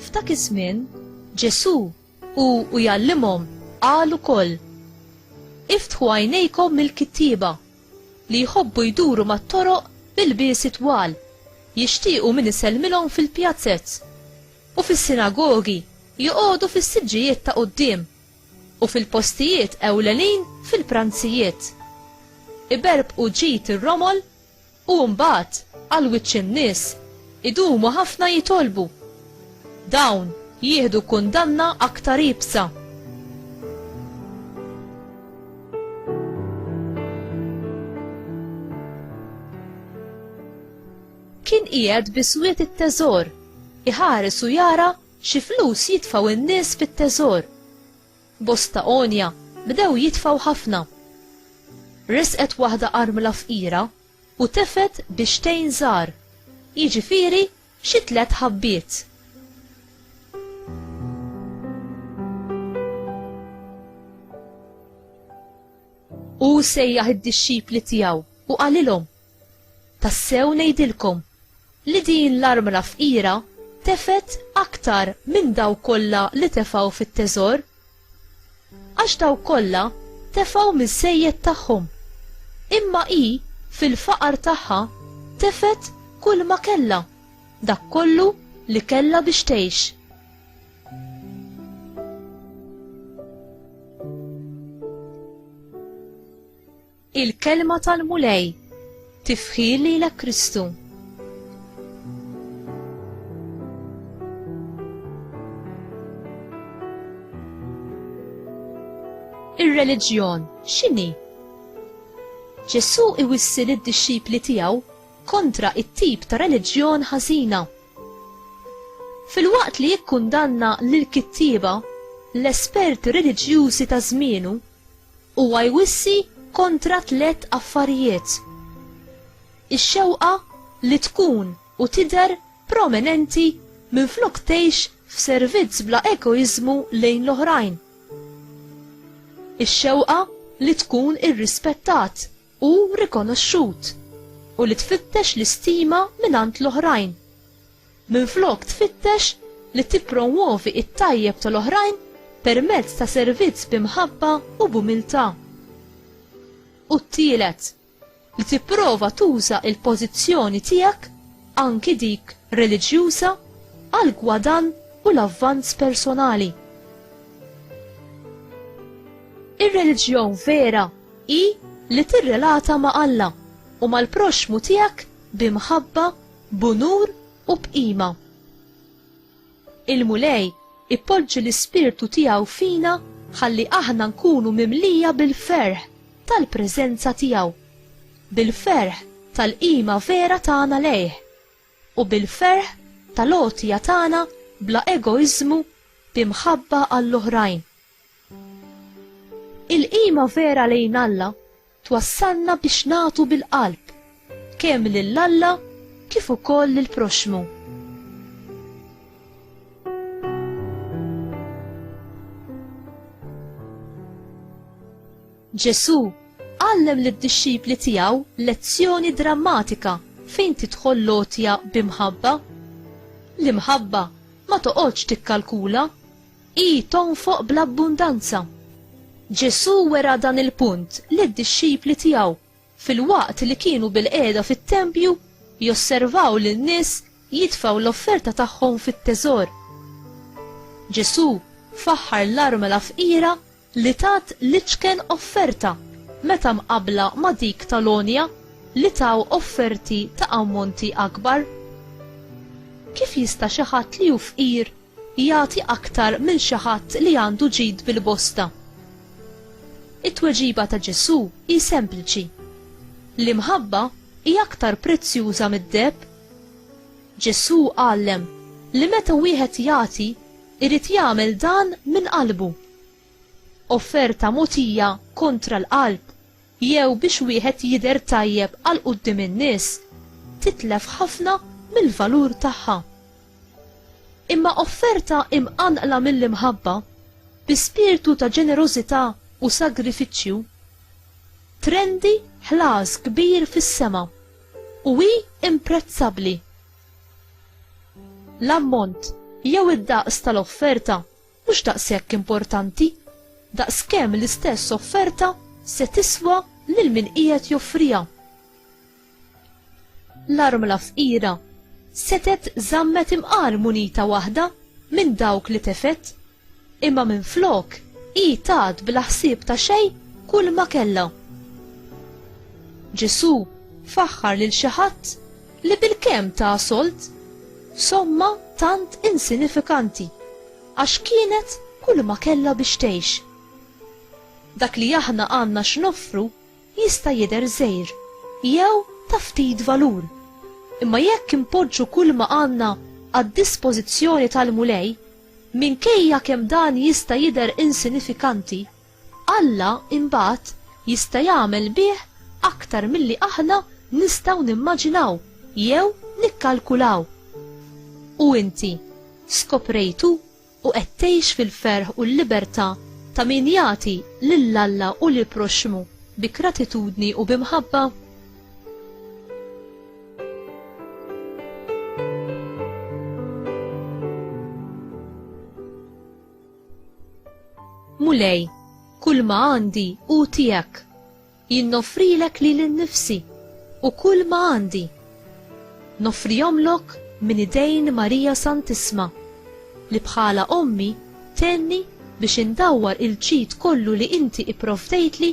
F'dak iż-żmien, Ġesù u u jallimhom qal ukoll Iftħu għajnejkom mill-kittieba li jħobbu jduru mat-toroq bil-biesi twal, jixtiequ min isellmilhom fil-pjazzez u fis-sinagogi joqogħdu fis-siġġijiet ta' quddiem u fil-postijiet ewlenin fil-pranzijiet. Iberbqu ġid ir-romol u mbagħad għal wiċċ in-nies idumu ħafna jitolbu. Dawn jieħdu kundanna aktar iebsa. Kien qiegħed biswiet it-teżor, iħares u jara Xi flus jitfgħu in-nies fit-teżor. Bosta għonja bdew jitfgħu ħafna. Resqet waħda armla fqira u tefgħet bixtejn żgħar, jiġifieri xi tliet ħabbiet. Hu sejjaħ id-dixxipli tiegħu u qalilhom, Tassew ngħidilkom li din l-armla fqira tefgħet aktar minn dawk kollha li tefgħu fit-teżor. Għax dawk kollha tefgħu miż-żejjed tagħhom, imma hi fil-faqar tagħha tefgħet kulma kellha, dak kollu li kellha biex tgħix. Il-kelma tal-Mulej tifħil lilek Kristu. Ir-reliġjon x'inhi? Ġesù iwissil id-dixxipli tiegħu kontra it-tip ta' reliġjon ħażina. Fil-waqt li jikkundanna lil kittieba l-esperti reliġjużi ta' żmienu Huwa jwissi kontra tliet affarijiet, ix-xewqa li tkun u tidher prominenti minflok tgħix f'servizz bla egoiżmu lejn l-oħrajn, ix-xewqa li tkun irrispettat, u rikonoxxut u li tfittex l-istima mingħand l-oħrajn. Minflok tfittex li tippromwovi it-tajjeb tal-oħrajn permezz ta' servizz b'imħabba u b'umiltà. U t-tielet, li tipprova tuża il-pożizzjoni tiegħek anki dik reliġjuża għal gwadan u l-avvanz personali. Ir-reliġjon vera hi li tirrelata ma' Alla u mal-proxxmu tiegħek bi mħabba, b'unur u b'qima. Il-Mulej ipoġġi l-ispirtu tiegħu fina ħalli aħna nkunu mimlija bil-ferħ tal-preżenza tiegħu, bil-ferħ tal-qima vera tagħna lejh, u bil-ferħ tal-għotja tagħna bla egoiżmu bi mħabba għall-oħrajn. Il-qima vera lejn Alla twassalna biex nagħtu bil-qalb, kemm lil Alla kif ukoll lill-proxxmu. Ġesù għallem lid-dixxipli tiegħu lezzjoni drammatika fejn tidħol lotja bi mħabba. L-imħabba ma toqgħodx tikkalkula Hi tonfoq bl-abbundanza. Ġesù wera dan il-punt lid-dixxipli tiegħu filwaqt li kienu bilqiegħda fit-tempju josservaw lin-nies jitfgħu l-offerta tagħhom fit-teżor. Ġesù faħħar l-armla fqira li tat l-iċken offerta meta mqabbla ma' dik tal-għonja li taw offerti ta' ammonti akbar? Kif jista' xi ħadd li hu fqir jagħti aktar minn xi ħadd li għandu ġid bil-bosta? It-tweġiba ta' Ġesù hi sempliċi, L-imħabba hi aktar prezzjuża mid-deheb. Ġesù għallem li meta wieħed jagħti Irid jagħmel dan minn qalbu. Offerta mogħtija kontra l-qalb jew biex wieħed jidher tajjeb għal quddiem in-nies titlef ħafna mill-valur tagħha. Imma offerta imqanqla mill-imħabba, bi spirtu ta' ġenerożità u sagrifiċċju, trendi ħlas kbir fis-sema u hi imprezzabbli. L-ammont jew id-daqs tal-offerta mhux daqshekk importanti daqskemm l-istess offerta se tiswa lil min qiegħed joffriha. L-armla fqira setgħet żammet imqar munita waħda minn dawk li tefgħet Imma minflok hi tat bla ħsieb ta' xejn kull ma kellha. Ġesù faħħar lil xi ħadd li bilkemm ta sold somma tant insinifikanti għax kienet kull ma kellha biex tgħix. Dak li aħna għandna x'noffru jista' jidher żgħir jew ta' ftit valur, imma jekk inpoġġu kull ma għandna għad-dispożizzjoni tal-Mulej, Minkejja kemm dan jista' jidher insinifikanti, Alla imbagħad jista' jagħmel bih aktar milli aħna nistgħu nimmaġinaw jew nikkalkulaw. U inti, skoprejtu u qed tgħix fil-ferħ u l-libertà ta' min jagħti lil Alla u lill-proxxmu bi gratitudni u bi mħabba? Mulej, kull ma għandi u tijak, jinnofrilek li l-nifsi u kull ma għandi. Nofrijomlok minn idejn Marija Santisma, li bħala ommi tenni biex indawwar il-ġid kollu li inti ipprovdejtli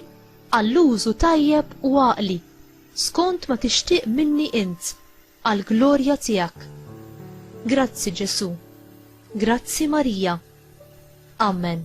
għall-użu tajjeb u għaqli, skont ma tixtieq minni int, għall-glorja tiegħek. Grazzi, Ġesù. Grazzi, Marija. Amen.